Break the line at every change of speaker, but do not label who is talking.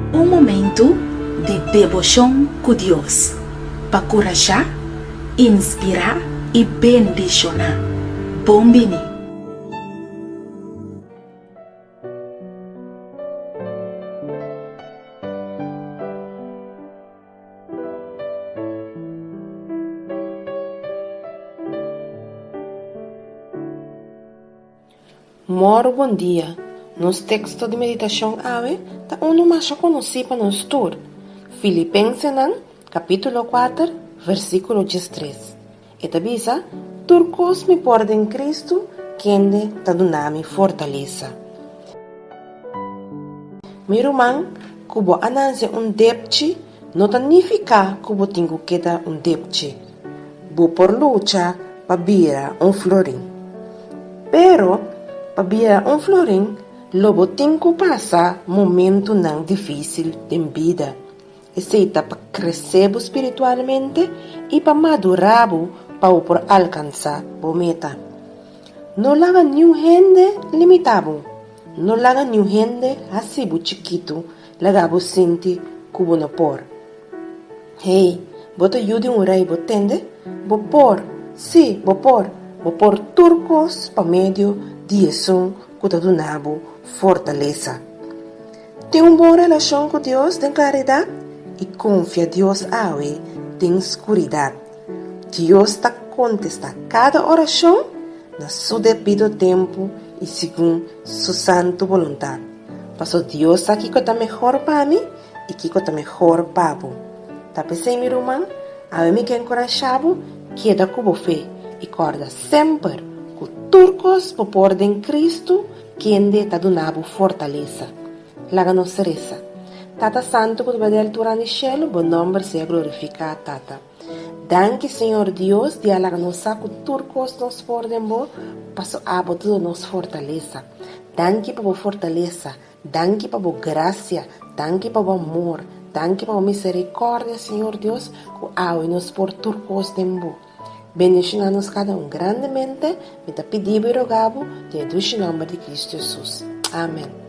Un momentu di deboshon ku Dios pa kurashá, inspirá i bendishoná. Bon bini!
Mor bon dia! Nos teksto di meditashon awe ta unu masha konosí pa nos tur, Filipensenan kapítulo kuater, vèrsikulo diestres. E ta bisa, Tur kos mi por den Kristu, kende ta duna mi fortalesa. Mi ruman, ku bo a nanse un depchi no ta nifiká ku bo tin ku keda un depchi. Bo por lucha pa bira un florin. Pero, pa bira un florin lo bo tin ku pasa momentunan difísil den bida. Esei ta pa kresé bo spiritualmente i pa madurá bo pa bo por alkansá bo meta. No laga niun hende limitá bo. No laga niun hende hasi bo chikitu, laga bo sinti ku bo no por. Hey, bo ta yu di un rei, bo tende? Bo por! Sí, bo por! Bo por tur kos pa medio di Esun ku ta duna bo fortalesa. Tin un bon relashon ku Dios den klaridat i konfia Dios awe den skuridat. Dios ta kontestá kada orashon na su debido tempu i segun su santu boluntat. Paso Dios sa kiko ta mehor pa mi i kiko ta mehor pa bo. Ta p'esei mi ruman, awe mi ke enkurashá bo keda ku bo fe i kòrda semper ku tur kos bo por den Kristu Kende ta duna bo fortalesa? Laga nos resa. Tata Santu ku ta bay di altura den shelu, bo nòmber sea glorifiká, Tata. Danki, Señor Dios, di a laga nos sa ku tur kos nos por den bo, paso abo ta duna nos fortalesa. Danki pa bo fortalesa, danki pa bo grasia, danki pa bo amor, danki pa bo miserikòrdia, Señor Dios, ku awe nos por tur kos den bo. Bendiciona nos cada un grandemente, mi ta pidibo y rogabo den e dushi nomber di Cristo Jesus. Amen.